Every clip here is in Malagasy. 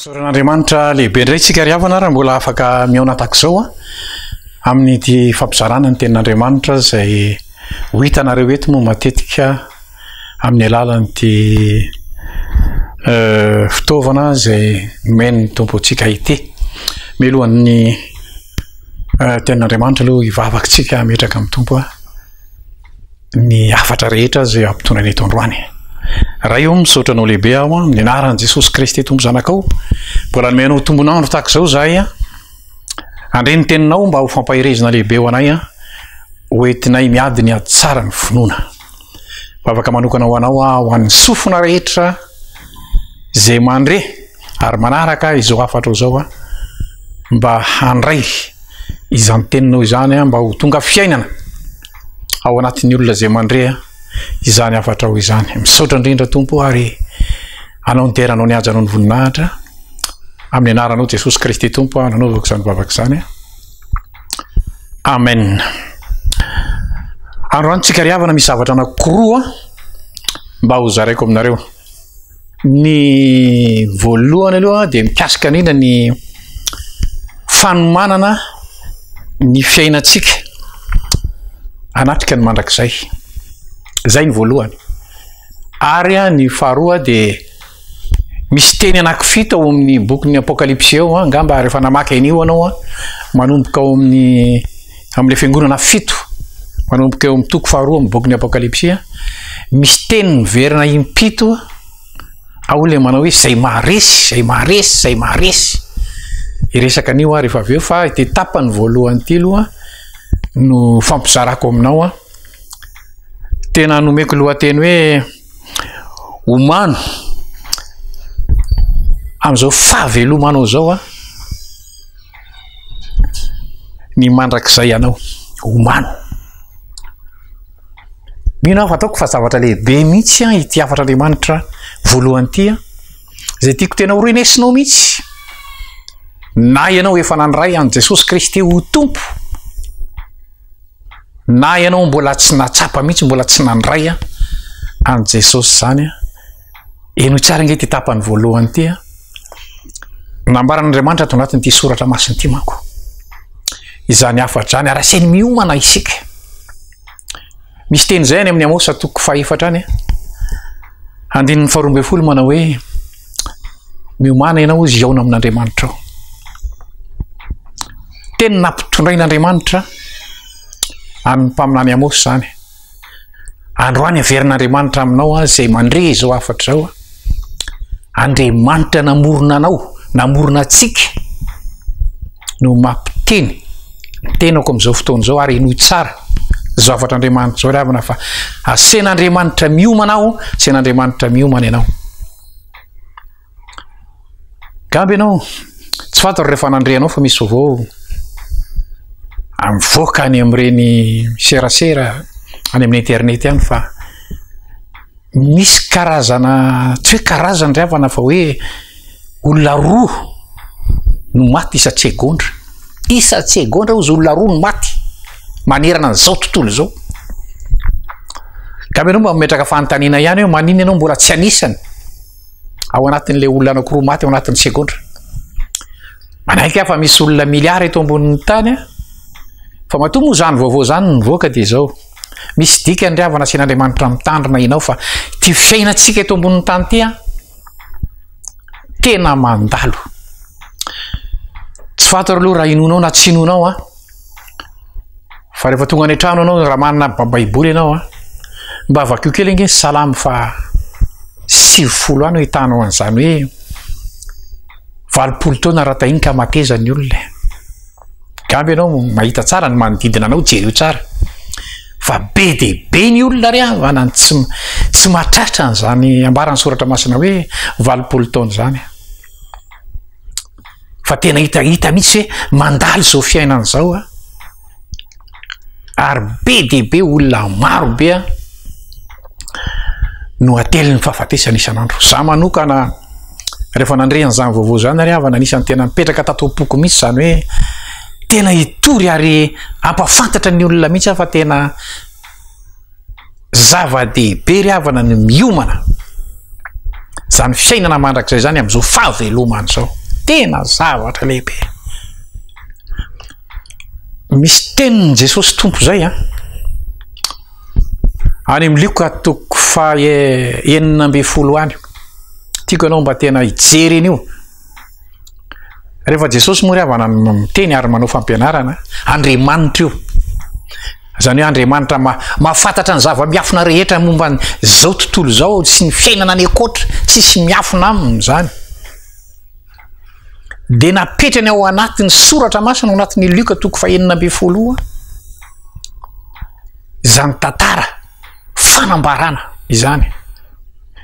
Misaotra an'Andriamanitra lehibe indray isika ry havana raha mbola afaka mihaona tahaka izao a amin'ity fampizarana ny tenin'Andriamanitra izay ho hitanareo eto moa matetika amin'ny alalan'ity euh, fitaovana izay nomen'ny tompo antsika ity. Melohan'ny euh, tenin'Andriamanitra aloha hivavaka antsika hametraka amin'ny tompo a. ny hafatra rehetra izay ampitondraina eto androany. Ray ô, misaotra anao lehibe aho amin'ny anaran'i Jesosy Kristy Tompo Zanakao. Mbola nomey anao tombon'andro tahaka izao izahay. Handre ny teninao mba ho fampaherezina lehibe ho anay. Ho entinay miady ny hatsara ny finoana. Vavaka manokana ho anao aho, ho an'ny sofina rehetra izay mandre. Ary manaraka ahy izao hafatro izao mba handray izany teninao izany mba ho tonga fiainana ao anatin'ny olona izay mandre izany hafatrao izany. Misaotra indrindra Tompo ary anao ny deranao ny hajanao ny voninahitra amin'ny anaranao Jesosy Kristy Tompo aho nanaovako izany vavaka izany. Amen. Androany tsika ry havana misy zavatra anankiroa mba ho zaraiko aminareo. Ny voalohany aloha dia mikasika indrindra ny fanomanana ny fiainantsika hanatrika ny mandrakizay. Izay ny voalohany. Ary ny faharoa dia misy teny anakifito ao amin'ny bokin'ny apokalypsy eo angamba rehefa namaky an'io anao manomboka ao amin'ny amin'ilay fiangonana fito manomboka eo amin'ny toko faharoa amin'ny bokin'ny apokalypsia misy teny miverina impito ao ilay manao hoe zay maharesy zay maharesy zay maharesy iresaka an'io ary efa avy eo fa ity tapany voalohany ity aloha no fampizarako aminao a tena nomeko lohateny hoe omano amin'izao fahavelomanao zao a ny mandrakizay anao omano. Mino aho fa ataoko fa zavatra lehibe mihitsy an ity hafatra Andriamanitra voalohany ity an. Izay tiako tena ho renesinao mihitsy. Na ianao efa nandray an'i Jesosy Kristy ho tompo. Na ianao mbola tsy natsapa mihitsy, mbola tsy nandray an an'i Jesosy izany an. Henoy tsara ange ity tapany voalohany ity a. Nambaran'Andriamanitra ato anatin'ity soratra masina ity manko. Izany hafadrany ary asainy miomana isika. Misy teny izay any amin'ny Amosa toko fahefatra any. Andininy faharoa ambin'ny folo manao hoe miomana ianao ozy hihaona amin'Andriamanitra ao. Teny nampitondrain'Andriamanitra amin'ny mpaminany Amosa izany. Androany averin'Andriamanitra aminao aho izay mandre izao hafatra izao a. Andriamanitra namorona anao, namorona antsika no mampiteny ny tenako amin'izao fotoana izao ary henoy tsara izao hafatr'Andriamanitra izao ry havana fa asen'Andriamanitra miomana aho, asen'Andriamanitra miomana ianao. Gamby ianao, tsy fantatro raha efa nandre anao fa misy vaovao mivoaka any amin'ireny serasera any amin'ny internet any fa misy karazana tsy hoe karazana ry havana fa hoe olona roa no maty isan-tsegondra. Isan-tsegondra hozy olona roa no maty manerana an'izao tontolo izao. Gamby ianao mba mametraka fanontaniana ihany hoe maninona ianao mbola tsy anisany? ao anatin'ilay olona anakiroa maty ao anatin'ny segondra manaiky afa misy olona miliara eto ambonin'ny tany a fa matoa moa zany vaovao zany nyvoaka dia zao misy dika ndry avana sen'andriamanitra mitandrina inao fa ti fiainantsika eto ambonin'ny tany ty a tena mandalo tsy fantaro aloha raha inonao na tsy inonao a Fa rehefa tonga any an-trano ianao raha manana Baiboly ianao a, mba vakio kely ange ny Salamo faha sivifolo any ahitanao an'izany hoe valopolo taona raha tahiny ka mateza ny olona. Gambe ianao mahita tsara ny manodidina anao, jereo tsara. Fa be dia be ny olona re havana ny tsy tsy mahatratra an'izany ambaran'ny soratra masina hoe valopolo taona izany. fa tena hita hita mihitsy hoe mandalo izao fiainana izao an, ary be dia be olona maro be an no atelin'ny fahafatesana isan'andro. Za manokana rehefa nandre an'izany vaovao izany ary havana anisan'ny tena mipetraka tato am-poko mihitsy izany hoe tena hitory ary hampafantatra ny olona mihitsy aho fa tena Zava-dehibe ry havana ny miomana izany fiainana mandrakizay izany amin'izao fahavelomana izao. Tena zavatra lehibe. Misy tenin'i Jesosy Tompo izay an. Any amin'ny Lioka toko faha enina ambin'ny folo any. Tiako ianao mba tena hijery an'io. Rehefa Jesosy moa ry havana no miteny ary manao fampianarana, Andriamanitra io. Izany hoe Andriamanitra ma, mahafantatra ny zava-miafina rehetra momba izao tontolo izao sy ny fiainana any ankoatra, tsisy miafina aminy izany. Dia napetrany ao anatin'ny soratra masina ao anatin'ny Lioka toko fahenina ambin'ny folo izany tantara fanambarana izany.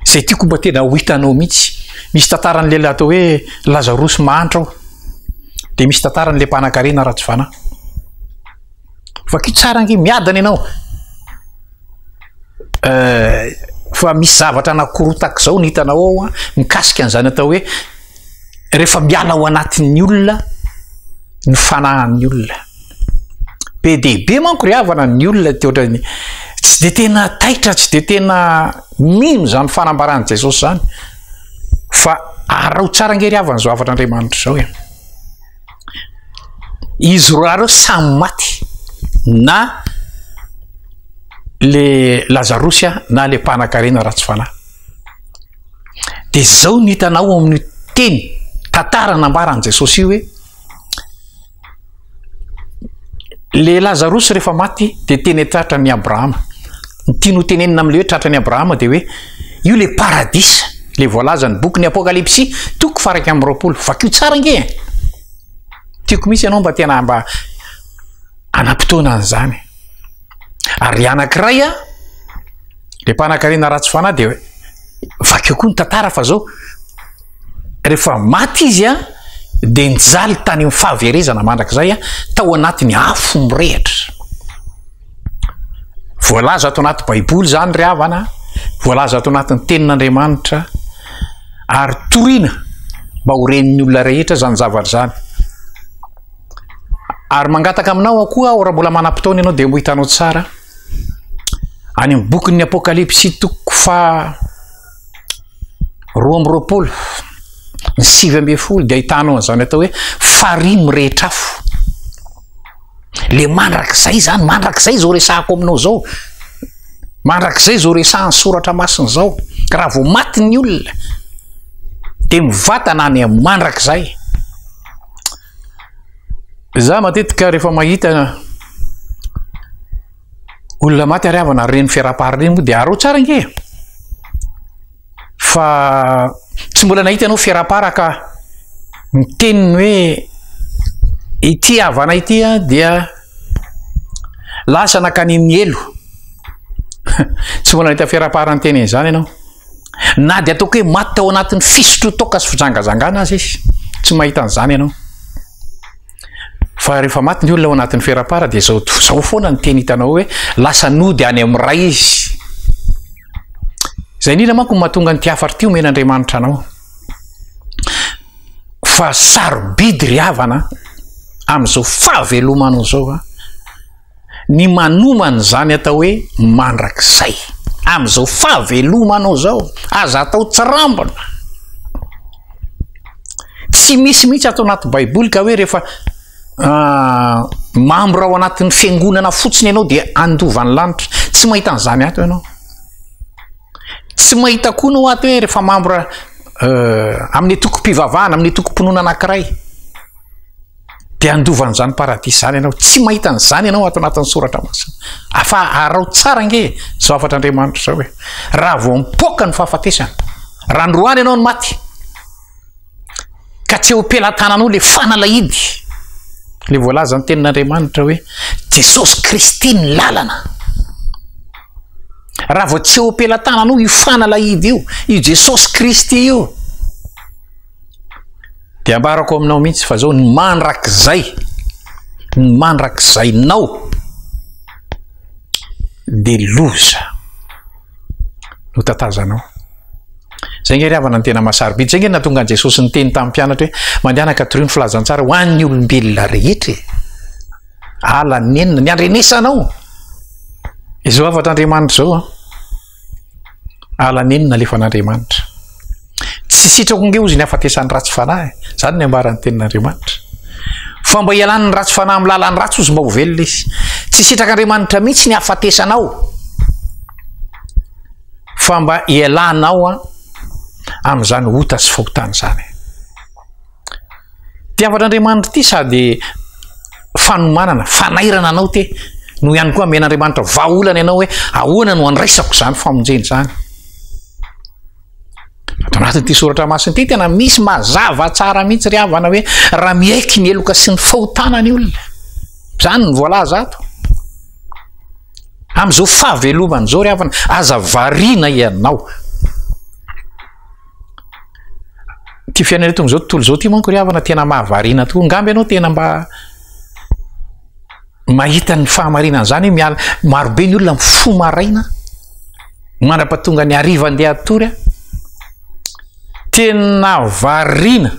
izay tiako mba tena ho hitanao mihitsy. Misy tantaran'ny lehilahy atao hoe Lazarosy mahantra ao. Dia misy tantaran'ilay mpanankarena Ratsivana. Vakio tsara ange, miadana ianao. Euh, fa misy zavatra anakorotak'izao ny hitanao ao an, mikasika an'izany atao hoe rehefa miala ao anatin'ny olona ny fanahin'ny olona. Be dia be manko ry havana ny olona dia ohatran'ny tsy dia tena taitra, tsy dia tena mino izany fanambaran'i Jesosy izany. Fa arao tsara ange ry havana izao havan'Andriamanitra izao e. Izy roa lahy ireo samy maty na le Lazarosy na le mpanakarena ratsy fanahy. Dia izao no hitanao ao amin'io teny, tantara nambaran'i Jesosy io hoe, le Lazarosy rehefa maty dia teny tratra ny Abrahama. Ny tiany ho tenenina amin'ilay hoe tratra ny Abrahama dia hoe io le paradisa, le voalazan'ny bokin'ny Apokalypsy toko faraika amin'ny roapolo. Vakio tsara ange e! Tiako mihitsy ianao mba tena mba hanam-potoana an'izany. ary ny anankiray a, le mpanakarena ratsy fanahy dia vakio koa ny tantara fa zao, rehefa maty izy a, dia nijaly tany amin'ny fahaverezana mandrakizay a, tao anatin'ny afo mirehitra. Voalaza ato anaty baiboly zany ry havana, voalaza ato anatin'ny tenin'Andriamanitra, ary torina mba ho ren'ny olona rehetra zany zavatra zany. ary mangataka aminao aho koa aho raha mbola manam-potoana ianao dia ho hitanao tsara any amin'ny bokin'ny apokalypsy toko fa roa amby roapolo ny sivy amby folo dia hitanao an'izany atao hoe farihy mirehitra afo le mandrakizay zany mandrakizay zao resahako aminao zao mandrakizay zao resahan'ny soratra masina zao raha vao maty ny olona dia mivatana any mandrakizay Za matetika rehefa mahita olona maty ary havana ary ireny fiaraha-pary ireny moa dia arao tsara ange e! Fa tsy mbola nahita anao fiaraha-para ka miteny ny hoe ity havana ity an dia lasa nankany amin'ny helo. Tsy mbola nahita fiaraha-para niteny an'izany ianao. Na dia ataoko hoe maty tao anatin'ny fisotroan-toaka sy fijangajangana aza izy, tsy mahita an'izany ianao. Fa rehefa maty ny olona ao anatin'ny ferapara dia izao izao foana ny teny hitanao hoe lasa nody any amin'ny ray izy. Izay indrindra manko mahatonga an'ity hafatra ity omen'Andriamanitra anao. Fa sarobidy ry havana amin'izao fahavelomanao izao. ny manomana izany atao hoe mandrakizay amin'izao fahavelomanao izao aza atao tsirambina tsy misy mihitsy ato anaty baiboly ka hoe rehefa ah, mambra ao anatin'ny fiangonana fotsiny ianao dia andovan'ny lanitra tsy mahita an'izany ato ianao tsy mahita koa nao ato hoe rehefa mambra eh, amin'ny tokom-pivavahana amin'ny tokom-pinoana anankiray dia handovan'izany paradisa izany ianao, tsy mahita an'izany ianao ato anatin'ny soratra masina, fa arao tsara ange izao hafatr'Andriamanitra izao hoe, raha vao mipoaka ny fahafatesana, raha androany ianao no maty, ka tsy eo am-pelatananao ilay fanalahidy, ilay voalaza ny tenin'Andriamanitra hoe, Jesosy Kristy ny lalana, raha vao tsy eo am-pelatananao io fanalahidy io, io Jesosy Kristy io, Dia ambarako aminao mihitsy fa zao ny mandrakizay, ny mandrakizainao dia loza no tatazanao. Zay nge ry havana ny tena masarobidy. Zay nge natonga an'i Jesosy niteny tamin'ny mpianatra hoe mandehana ka torio ny filazantsara ho an'ny olombelona rehetra e. Ala nenina, ny andrenesanao. Izao hafatr'Andriamanitra izao an. Ala neny nalefan'Andriamanitra. Tsy sitrako nge hozy ny hafatesan'ny ratsy fanahy, izany ny ambaran'ny tenin'Andriamanitra. Fa mba hialan'ny ratsy fanahy amin'ny lalan'ny ratsy hozy mba ho velona izy. Tsy sitrak'Andriamanitra mihitsy ny hafatesanao, fa mba hialanao amin'izany ota sy fahotana izany. Tiavan'Andriamanitra ity sady fanomanana, fanairana anao te no ihany koa amen'Andriamanitra vahaolana ianao hoe ahoana no andraisako izany famonjena izany. Ato anatin'ity soratra masina ity tena misy mazava tsara mihitsy ry havana hoe raha miaiky ny heloka sy ny fahotana ny olona. Izany ny voalaza ato. Amin'izao fahavelomana izao ry havana, aza variana ianao. Ity fiainana eto amin'izao tontolo izao ity manko ry havana tena mahavariana tokoa. Angamba ianao tena mba mahita ny fahamarinana izany hoe miala marobe ny olona mifoha maraina mandrapatonga ny hariva andeha hatory. Tena variana.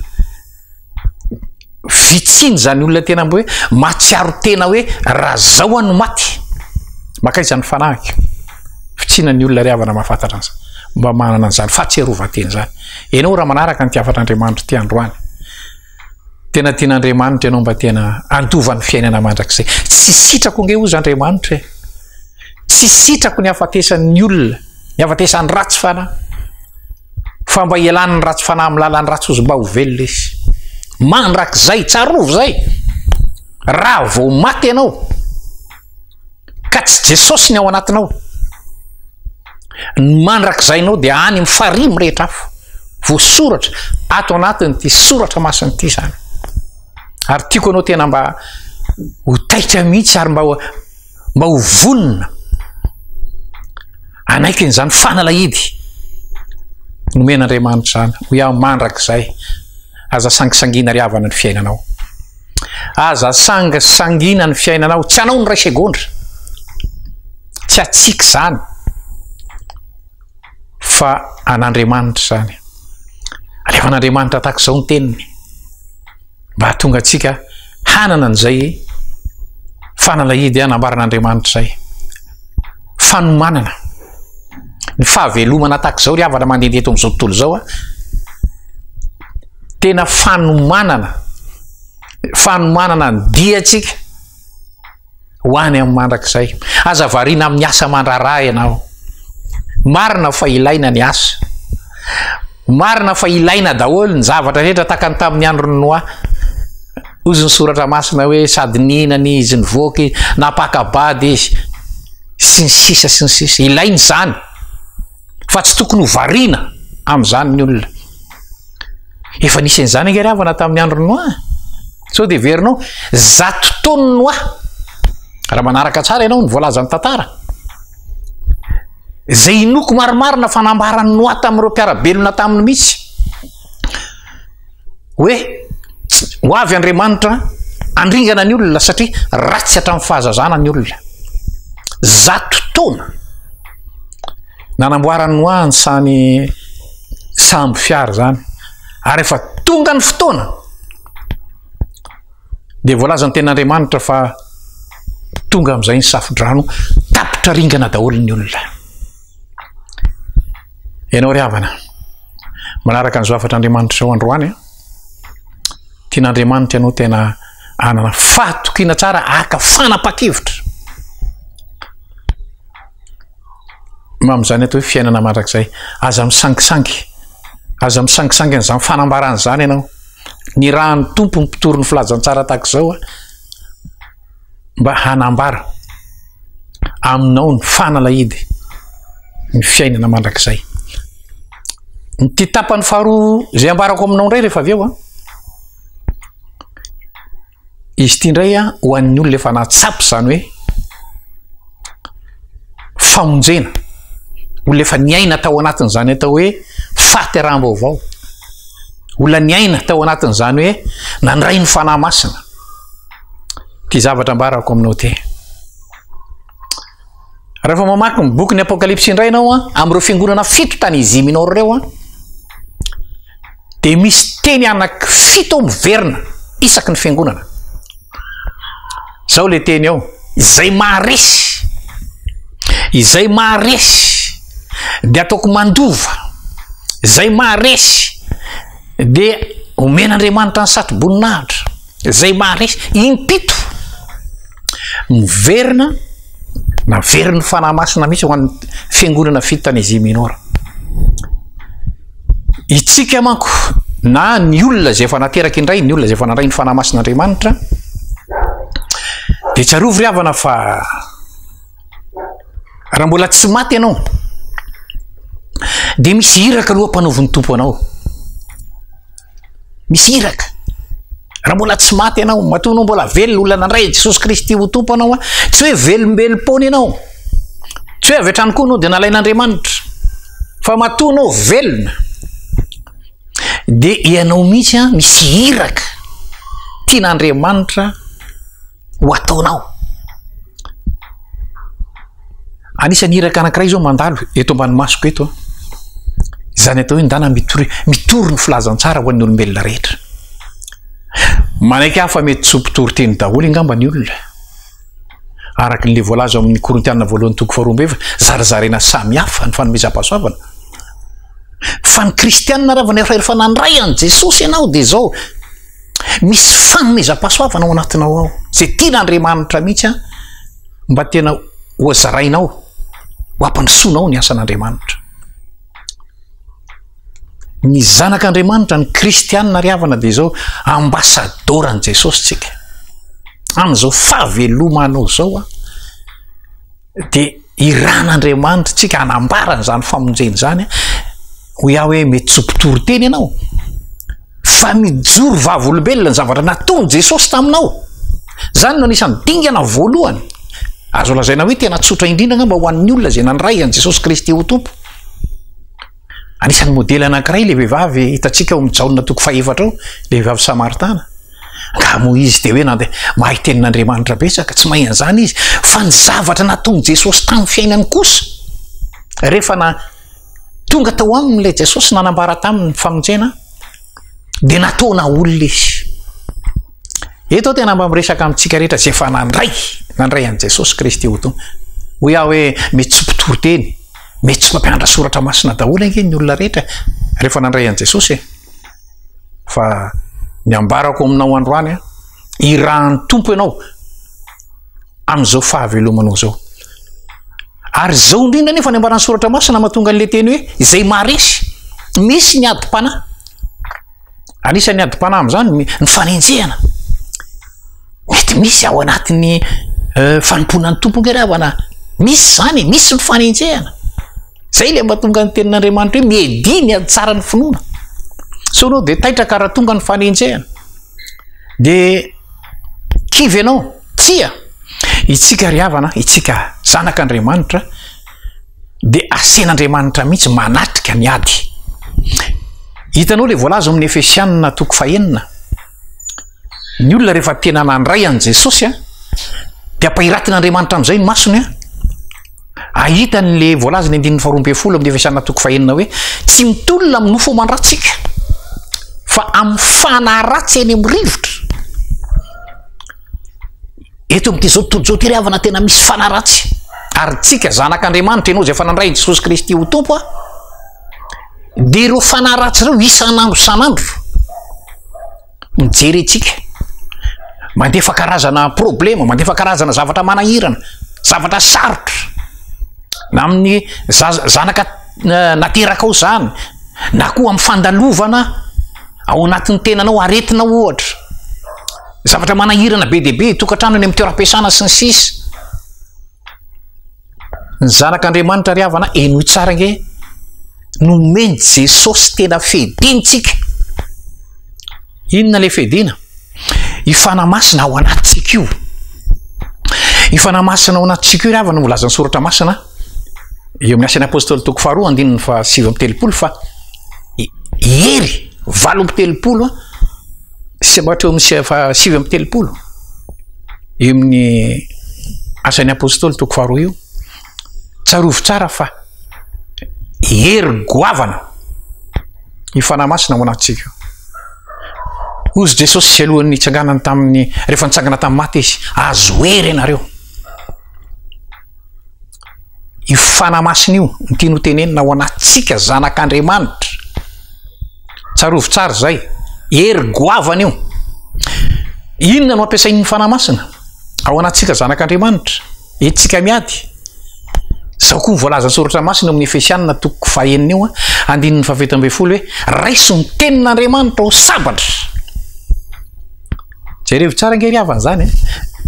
Vitsiany izany olona tena mba hoe mahatsiaro tena hoe raha zao aho no maty. Makaiza ny fanahiko. Vitsiana ny olona ry havana mahafantatra an'izany. Mba manana an'izany fahatsiarovan-tena izany. Ianao raha manaraka ny tiavan'Andriamanitra ity androany, tena tian'Andriamanitra ianao mba tena handova ny fiainana mandrakizay. Tsy sitrako ange hozy Andriamanitra e! Tsy sitrako ny hafatesan'ny olona, ny hafatesan'ny ratsy fanahy, fa mba hialan'ny ratsy fanahy amin'ny lalan'ny ratsy ozy mba ho velona izy. Mandrakizay, tsarovy izay, raha vao maty ianao, ka tsy Jesosy ny ao anatinao, ny mandrakizainao dia any amin'ny farihy mirehitra afo, voasoratra ato anatin'ity soratra masina ity izany. Ary tiako anao tena mba ho taitra mihitsy ary mba mba ho vonona hanaiky an'izany fanalahidy nomena Andriamanitra izany ho iaho mandrakizay aza sangisangina ry havana ny fiainanao aza sangisangina ny fiainanao tsy anao ny ray segondra tsy atsika izany fa an'Andriamanitra izany alefan'Andriamanitra tahaka izao ny teniny mba hahatonga antsika hanana an'izay fanalahidy hanambaran'Andriamanitra izay. Fanomanana. Ny fahavelomana tahaka izao ry havana mandeha eto amin'izao tontolo izao a. Tena fanomanana. Fanomanana ny diantsika. ho any amin'ny mandrakizay. Aza variana amin'ny asa mandraharaha ianao. Marina fa ilaina ny asa. Marina fa ilaina daholo ny zavatra rehetra tahaka ny tamin'ny andron'ny Noa. Hozy ny soratra masina hoe sady nihinana izy, nivoaka izy, napaka-bady izy, sy ny sisa sy ny sisa. Ilaina izany. fa tsy tokony ho variana amin'izany ny olona. Efa nisy an'izany ange ry havana tamin'ny andron'i Noa. Sao dia heverinao zato taonan'i Noa. Raha manaraka tsara ianao ny voalazan'ny tantara. Izay inoako marimarina fa nambaran'i Noa tamin'ireo mpiara-belona taminy mihitsy. Hoe ho avy Andriamanitra handringana ny olona satria ratsy hatramin'ny fahazazana ny olona. Zato taona nanamboaran'i Noa ny samy sambo fiara izany ary efa tonga ny fotoana. dia voalazan'ny tenin'Andriamanitra fa tonga amin'izay ny safo-drano, tapitra ringana daholo ny olona. Ianao ry havana, manaraka ny zafatr'Andriamanitra ao androany, tian'Andriamanitra ianao tena anana fahatokiana tsara aka fanapa-kevitra. Mamin'izany atao hoe fiainana mandrakizay, aza misangisangy, aza misangisangy an'izany fanambarana izany ianao. ny rahan'ny tompo ny mpitory ny filazantsara tahaka izao a mba hanambara aminao ny fanalahidy ny fiainana mandrakizay ny ty tapany faharoa izay ambarako aminao indray rehefa avy eo a Izy ity indray a, ho an'ny olona efa nahatsapa izany hoe famonjena, olona efa niaina tao anatin'izany atao hoe fahateraham-baovao, olona niaina tao anatin'izany hoe nandray ny fanahy masina. Ity zavatra ambarako aminao ity. Rehefa mamaky ny bokin'ny Apokalypsy indray ianao an, amin'ireo fiangonana fito tany Asia Minor ireo an, dia misy teny anaky fito miverina isaky ny fiangonana. Zao le teny ao, izay maharesy, izay maharesy dia ataoko mandova, izay maharesy dia omen'Andriamanitra ny satroboninahitra. Izay maharesy impito. Miverina, naverin'ny Fanahy Masina mihitsy ho an'ny Fiangonana fito tany Asia Minora. Itsika manko, na ny olona izay efa nateraka indray, ny olona izay efa nandray ny Fanahy Masin'Andriamanitra, dia tsarovy ry havana fa raha mbola tsy maty ianao, dia misy iraka aloha mpanaovin'ny Tompo anao. Misy iraka. Raha mbola tsy maty ianao, matoa anao mbola velona, olona nandray an'i Jesosy Kristy ho Tompo anao, an, tsy hoe velombelom-poana ianao. Tsy hoe avy hatrany koa anao dia nalain'Andriamanitra. Fa matoa anao velona, dia ianao mihitsy an, misy iraka tian'Andriamanitra ho ataonao. Anisan'ny iraka anankiray izao mandalo eto ambany masoko eto an. Izany atao hoe ndana mitory mitory ny filazantsara ho an'ny olombelona rehetra. Manaiky hafa mety tsy ho mpitory teny daholo angamba ny olona. Araka ilay voalaza amin'ny Korintiana voalohany toko faharoa ambeva, zarazaraina samy hafa ny fanomezam-pahasoavana. Fa ny kristianina raha vao niafara ery fa nandray an'i Jesosy ianao dia izao Misy fanomezam-pahasoavana ao anatinao ao, izay tian'Andriamanitra mihitsy an, mba tena hozarainao, ho ampandrosoanao ny asan'Andriamanitra. Ny zanak'Andriamanitra, ny kristianina ry havana dia izao, ambasadaoran'i Jesosy isika. Amin'izao fahavelomanao izao an. dia iran'Andriamanitra tsika anambarany zany famonjeny zany ho iaho hoe mety tsy mpitory teny ianao fa mijoro vavolombelona ny zavatra nataony Jesosy taminao zany no anisan'ny dingana voalohany azo lazaina hoe tena tsotra indrindra nga mba ho an'ny olona zay nandray an'i Jesosy Kristy ho tompo Anisan'ny modely anankiray ilay vehivavy hitantsika ao amin'ny Jaona toko fahefatra ao, ilay vehivavy Samaritana. Angaha moa izy dia hoe nandeha mahay tenin'Andriamanitra betsaka? Tsy mahay an'izany izy, fa ny zavatra nataon'i Jesosy tamin'ny fiainany kosa. Rehefa na tonga tao aminy ilay Jesosy nanambara taminy ny famonjena, dia nataona olona izy. Eto aho tena mba miresaka amintsika rehetra izay efa nandray, nandray an'i Jesosy Kristy ho Tompo. Hoy aho hoe mety tsy mpitoriteny, mety tsy mpampianatra soratra masina daholo ange ny olona rehetra rehefa nandray an'i Jesosy e. Fa ny ambarako aminao androany a, irahan'ny Tompo ianao amin'izao fahavelomanao izao. Ary izao indrindra nefa ny ambaran'ny soratra masina mahatonga an'ilay teny hoe izay maharesy, misy ny adim-panahy. Anisan'ny adim-panahy amin'izany ny ny fanenjehana. Mety misy ao anatin'ny eh, fanompoana ny Tompo angamba havana. Misy izany e, misy ny fanenjehana. Zay ilay mahatonga ny tenin'Andriamanitra hoe miedihy ny ady tsara ny finoana. Sao ianao dia taitra ka raha tonga ny fanenjehana. Dia kivy ianao, tsia, itsika ry havana, itsika zanak'Andriamanitra, dia asen'Andriamanitra mihitsy manatrika ny ady. Hitanao ilay voalaza amin'ny Efesianina toko fahenina. Ny olona rehefa tena nandray an'i Jesosy a, dia ampahiratin'Andriamanitra amin'izay ny masony a. Ahita an'ilay voalaza ny andininy faharoa ambin'ny folo amin'ny Efesianina toko fahenina hoe tsy mitolona amin'ny nofo aman-dratsika fa amin'ny fanahy ratsy eny amin'ny rivotra. Eto amin'ity izao tontolo izao ity ry havana tena misy fanaratsy ary tsika zanak'Andriamanitra ianao izay efa nandray an'i Jesosy Kristy ho Tompo a dia ireo fanaratsy ireo isan'andro isan'andro mijery antsika mandefa karazana problema mandefa karazana zavatra manahirana zavatra sarotra na amin'ny zanaka eh, naterakao izany na koa amin'ny fandalovana ao anatin'ny tenanao aretina ohatra Zavatra manahirana be dia be, tokantrano eny amin'ny toeram-piasana sy ny sisa Ny zanak'Andriamanitra ry havana henoy tsara ange nomen'i Jesosy tena fedintsika. Inona le fedina? I Fanahy Masina ao anatintsika io. I Fanahy Masina ao anatintsika io ry havana no volazan'ny soratra masina eo amin'ny asan'ny apôstôly toko faharoa andininy fa sivy amby telopolo fa hery valo amby telopolo Sematra eo amin'ny faha sivy amby telopolo eo amin'ny asan'ny apostoly toko faharoa io. Tsarovy tsara fa hery goavana ny fanahy masina ao anatintsika. Hozy Jesosy alohan'ny nitsanganany tamin'ny rehefa nitsangana tamin'ny maty izy, azo hery ianareo. io fana masina io no tiany ho tenenina ho an'tsika zanak'Andriamanitra. Tsarovy tsara izay, hery goavana io. Inona no ampiasain'ny fana masina ao an'tsika zanak'Andriamanitra? Entintsika miady. Izao koa ny voalazan'ny soratra masina amin'ny Efesianina toko fahenina io, andininy fahafito ambin'ny folo hoe raiso ny tenin'Andriamanitra ho sabatra. Jerevo tsara ange ry havana izany e.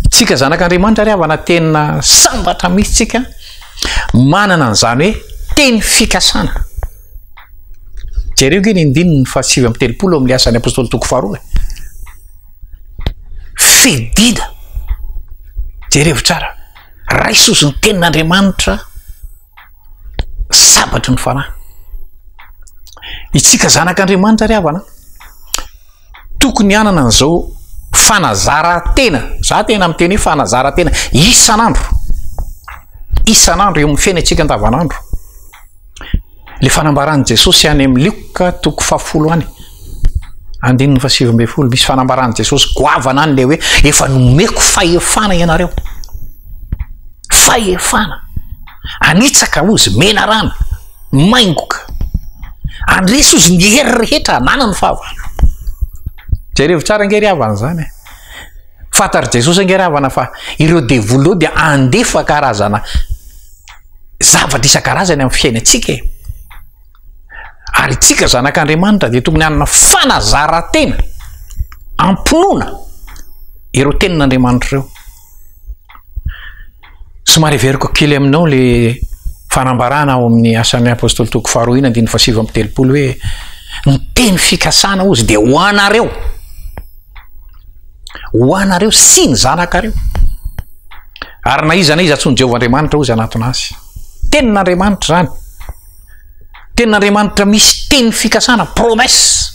Tsika zanak'Andriamanitra ry havana tena sambatra mihitsy tsika manana an'izany hoe teny fikasana. Jereo ange ny andininy fahasivy amby telopolo amin'ny asan'ny apostoly toko faharoa. Fidina. Jerevo tsara. Raisozy ny tenin'Andriamanitra sabatry ny fanahy. Itsika zanak'Andriamanitra ry havana. Tokony hanana an'izao fanazaran-tena, za tena miteny hoe fanazaran-tena isan'andro, isan'andro eo amin'ny fiainantsika andavan'andro. Ilay fanambaran'i Jesosy any amin'ny Lioka toko fahafolo any, andininy fahasivy ambin'ny folo, misy fanambaran'i Jesosy goavana any ilay hoe efa nomeko fahefana ianareo. Fahefana, anitsaka hoy izy, menarana, maingoka. Andresy hoy izy ny hery rehetra ananany fa avy any. Jerevo tsara ange ry havana izany e! Fantatr'i Jesosy ange ry havana fa ireo devoly ireo dia handefa karazana zavatra isan-karazany amin'ny fiainantsika e! Ary itsika zanak'Andriamanitra dia tokony hanana fanazaran-tena hampinoana ireo tenin'Andriamanitra ireo. Somary heveriko kely aminao le fanambarana ao amin'ny asan'ny apôstôly toko faharoa ina andininy fahasivy amby telopolo hoe ny teny fikasana ozy dia ho anareo ho anareo sy ny zanakareo ary na iza na iza tsony Jehovah Andriamanitra ozy anatona azy tenin'Andriamanitra izany tenin'Andriamanitra misy teny fikasana promesse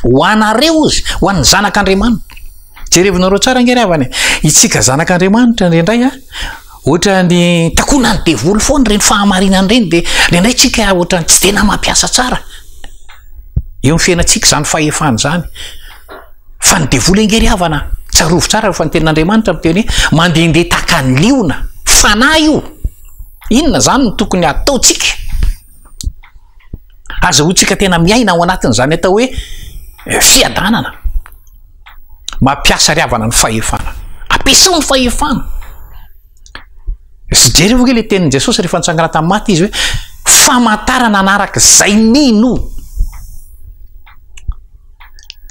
Ho anareo izy, ho an'ny zanak'Andriamanitra. Jerevinareo tsara ange ry havana e. Isika zanak'Andriamanitra indraindray a, ohatran'ny takonan'ny devoly foana ireny fahamarinana ireny dia indraindray tsika ohatran'ny tsy tena mampiasa tsara. Eo ny fiainantsika izany fahefana izany. Fa ny devoly ange ry havana, tsarovy tsara fa ny tenin'Andriamanitra miteny hoe mandehandeha tahaka ny liona, fanahy io. Inona izany no tokony hataontsika? Azahoantsika tena miaina ao anatin'izany atao hoe fiadanana. Mampiasa ry havana ny fahefana. Ampiasao ny fahefana. Sy jereo ve ilay tenin'i Jesosy rehefa nitsangana tamin'ny maty izy hoe famantarana anaraka izay mino.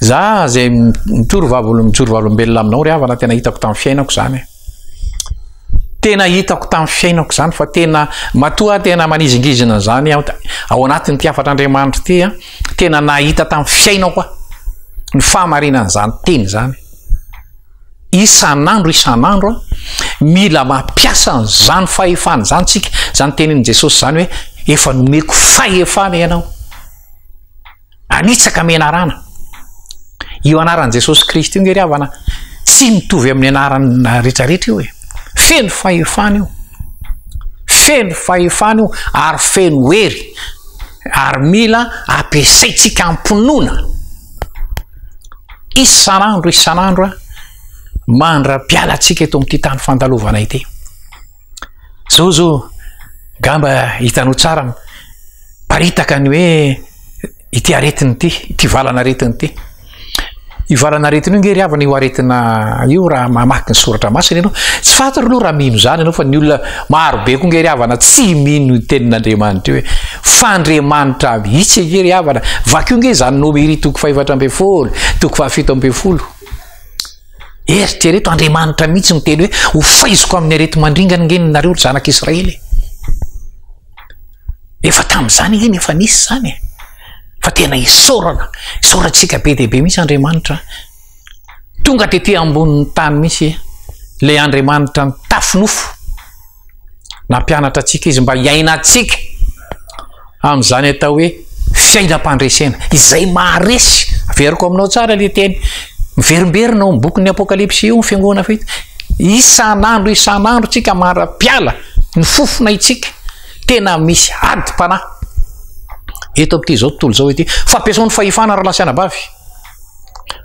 Za izay mijoro vavolombelona aminao ry havana tena hitako tamin'ny fiainako izany. Tena hitako tamin'ny fiainako izany fa tena matoa tena manizingizina izany aho ao anatin'ity hafatr'Andriamanitra ity a, tena nahita tamin'ny fiainako aho ny fahamarinana izany teny izany. Isan'andro isan'andro mila mampiasa an'izany fahefana izany tsika, izany tenin'i Jesosy izany hoe efa nomeko fahefana ianao. Nanitsaka menarana. Io anaran'i Jesosy Kristy io nge ry havana tsy mitovy amin'ny anarana rehetra rehetra io e. Feno fahefana io. Feno fahefana io ary feno hery ary mila ampiasaintsika am-pinoana isan'andro isan'andro mandra-pialantsika eto amin'ity tany fandalovana ity. Jojo, ngamba hitanao tsara miparitaka ny hoe ity aretina ity, ity valan'aretina ity. Io valan'aretina io nge ry havana io aretina io raha mamaky ny soratra masina ianao. Tsy fantatro aloha raha mino izany ianao fa ny olona maro be koa nge ry havana tsy mino ny tenin'Andriamanitra io hoe f'Andriamanitra mihitsy nge ry havana. Vakio nge izany Nomery toko fahefatra ambin'ny folo, toko fahafito ambin'ny folo. Eritrereto, Andriamanitra mihitsy no miteny hoe, Hofaiziko amin'ny areti-mandringana ange nareo ry zanak'i Israely e! Efa tamin'izany ange ny efa nisy izany e! Fa tena isaorana, isaorantsika be dia be mihitsy Andriamanitra. Tonga tetỳ ambonin'ny tany mihitsy ilay Andriamanitra nitafy nofo. Nampianatra antsika izy mba hiainantsika amin'izany atao hoe fiainam-pandresena, izay maharesy. Averiko aminao tsara ilay teny miverimberina ao amin'ny bokin'ny Apokalypsy io, ny fiangonana fahita. Isan'andro isan'andro tsika mara-piala, ny fofona itsika, tena misy adim-panahy. Eto amin'ity izao tontolo izao ity, fampiasao ny fahefana raha lasa anabavy.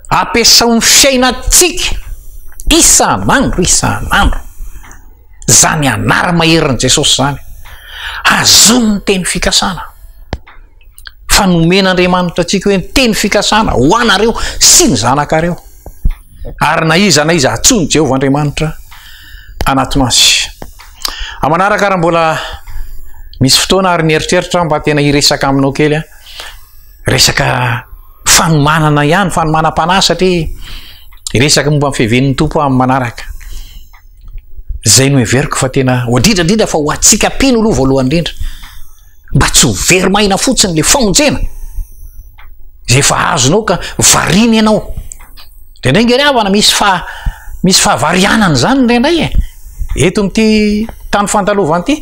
Ampiasao ny fiainantsika isan'andro isan'andro. izany anara-maherin'i Jesosy izany, azony ny teny fikasana, fa nomen'Andriamanitra antsika hoe ny teny fikasana ho anareo sy ny zanakareo, ary na iza na iza atsoin'i Jehovah Andriamanitra anatona azy. Amanaraka raha mbola misy fotoana ary mieritreritra mba tena hiresaka aminao kely a resaka fanomanana ihany fanomanam-panahy satria hiresaka momba ny fiavian'ny tompo amin'ny manaraka Zay no heveriko fa tena ho adrindra indrindra fa ho antsika mpino aloha voalohany indrindra mba tsy ho very maina fotsiny le famonjena zay efa azonao ka varina ianao de ndray ngery havana misy fa misy fahavarianana zany ndray ndray e eto amity tany fandalovany ty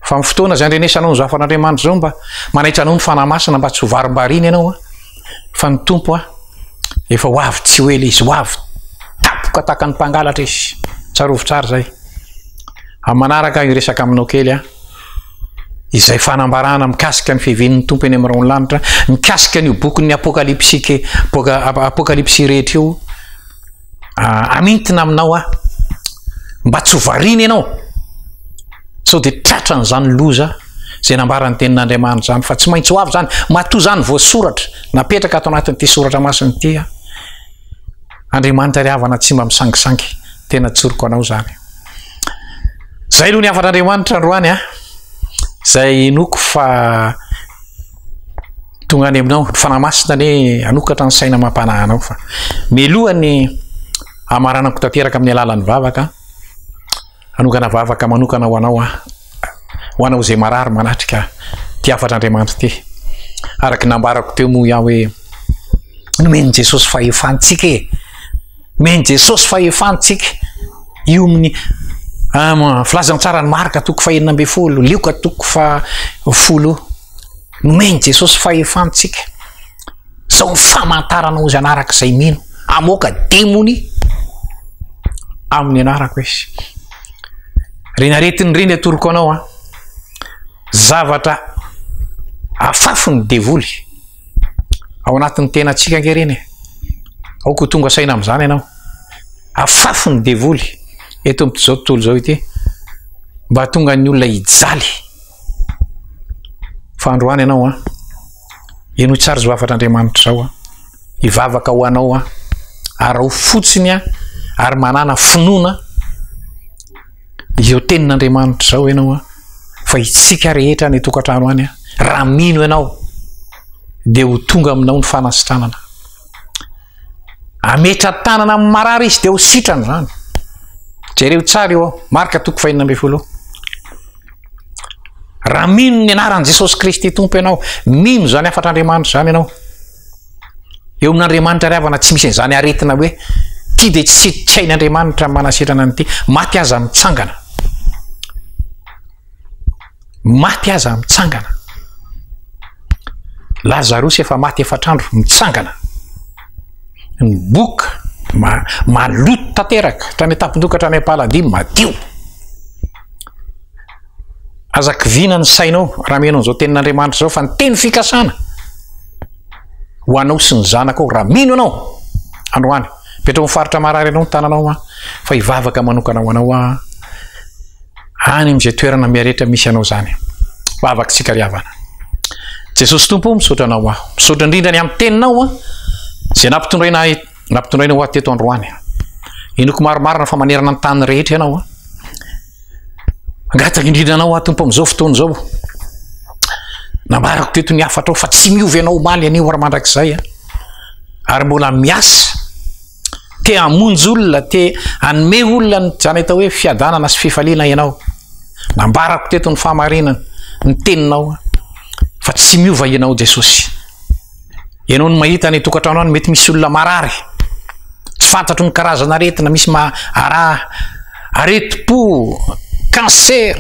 fa my fotoana zay andrenesanao ny zafan'Andriamanitra zao mba manaitra anao ny fanahy masina mba tsy ho varimbarina ianao a fa ny Tompo a, efa ho avy tsy ho ela izy, ho avy tapoka tahaka ny mpangalatra izy, tsarovy tsara izay. Amin'ny manaraka aho hiresaka aminao kely a, izay fanambarana mikasika ny fiavian'ny Tompo eny amin'ny raon'ny lanitra, mikasika an'io bokin'ny apokalypsy, apokalypsy rehetra io, hamintina aminao aho mba tsy ho variana ianao sao dia tratra an'izany loza izay nambaran'ny tenin'Andriamanitra izany fa tsy maintsy ho avy izany matoa izany voasoratra napetraka ato anatin'ity soratra masina ity aho Andriamanitra ry havana tsy mba misangisangy tena tsoriko anao izany izay aloha ny hafan'Andriamanitra androany a izay inoako fa tonga any aminao ny fanahy masina anie hanokatra ny saina amam-panahinao fa meloha ny hamaranako tanteraka amin'ny alalan'ny vavaka hanokana vavaka manokana ho anao aho ho anao izay marary manatrika ty hafatr'Andriamanitra ty araka nambarako teo moa iaho hoe nomen'i Jesosy fahefantsika e Omen'i Jesosy fahefana tsika hiomin'ny ah, filazantsaran'i Marka toko fahenina ambin'ny folo, Lioka toko fahafolo. Nomen'i Jesosy fahefana tsika. Sao ny famantarana ozy anaraka izay mino. Amoaka demony amin'ny anarako izy. Renaretin'ny reny atoroko anao an. Ah. Zavatra afafy ny devoly. ao anatin'ny tenantsika ange ireny e. Aoka ho tonga saina amin'izany ianao. Afafy ny devoly eto amin'izao tontolo izao ity mba hahatonga ny olona hijaly. Fa androany ianao an, henoy tsara izao hafatr'Andriamanitra izao an, hivavaka ho anao an, araho fotsiny an, ary manana finoana Izao tenin'Andriamanitra izao ianao an, fa isika rehetra any an-tokantrano any an, raha mino ianao dia ho tonga aminao ny fanasitranana. Ametra-tanana amin'ny marary izy dia ho sitrana izany. Jereo tsara eo, marka toko fahina ambin'ny folo. Raha mino ny anaran'i Jesosy Kristy Tompo ianao, mino izany hafatr'Andriamanitra izany ianao, Eo amin'Andriamanitra ry havana tsy misy an'izany aretina hoe ity dia tsy tsy hain'Andriamanitra ny manasitrana an'ity. Maty aza mitsangana. Maty aza mitsangana. Lazarosy efa maty efatr'andro mitsangana. Ny boka ma, maloto tanteraka, hatrany an-tampon-doha ka hatrany am-paladia madio. Aza kiviana ny sainao raha miheno an'izao tenin'Andriamanitra izao fa ny teny fikasana ho anao sy ny zanakao raha mino ianao androany. Petraho amin'ny faritra marary ianao ny tananao an, fa hivavaka manokana ho anao an. Any amin'izay toerana miaretra misy anao izany. Vavaka tsika ry havana. Jesosy Tompo, misaotra anao aho. Misaotra indrindra ny amin'ny teninao an. Izay nampitondraina ahy, nampitondraina ho ahy teto androany. Inoko maromarina fa manerana ny tany rehetra ianao an. Mangataka indrindra anao aho tompo amin'izao fotoana izao. Nambarako teto ny hafatrao fa tsy miova ianao omaly anio ary mandrakizay an. Ary mbola miasa. Te hamonjy olona, te hanome olona ny izany atao hoe fiadanana sy fifaliana ianao. Nambarako teto ny fahamarinana, ny teninao fa tsy miova ianao Jesosy. Ianao no mahita any an-tokantrano any mety misy olona marary. Tsy fantatro ny karazana aretina misy ara aretim-po, cancer,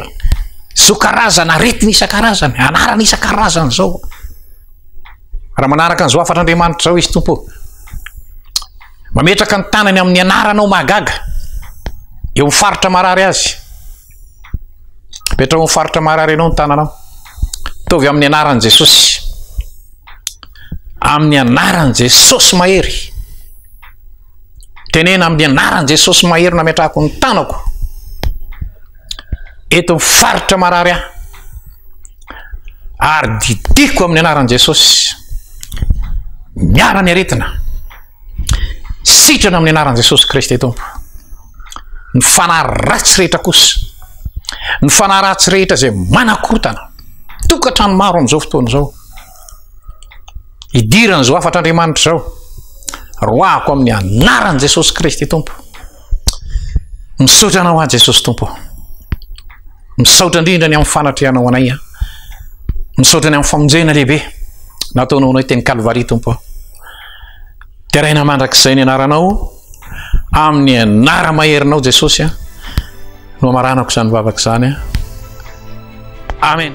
zao karazana aretina isan-karazany, anarana isan-karazany zao. Raha manaraka an'izao hafatr'Andriamanitra izao izy Tompo. Mametraka ny tanany amin'ny anarana ao mahagaga. Eo amin'ny faritra marary azy. Mipetraha ao amin'ny faritra marary ianao ny tananao. Ataovy amin'ny anaran'i Jesosy. Amin'ny anaran'i Jesosy mahery. Tenena amin'ny anaran'i Jesosy mahery nametrahako ny tanako. Eto amin'ny faritra marary aho. Ary didiko amin'ny anaran'i Jesosy. Miala ny aretina. Sitrana amin'ny anaran'i Jesosy Kristy Tompo. Ny fanahy ratsy rehetra kosa, ny fanahy ratsy rehetra izay manakorotana, tokantrano maro amin'izao fotoana izao, hidiran'izao hafatr'Andriamanitra izao, roahako amin'ny anaran'i Jesosy Kristy Tompo. Misaotra anao aho Jesosy Tompo. Misaotra indrindra ny amin'ny fanatrehanao anay. Misaotra ny amin'ny famonjena lehibe nataonao anay teny Kalvary Tompo. Deraina mandrakizay ny anaranao amin'ny anara maherinao Jesosy a. No amaranako izany vavaka izany a. Amen.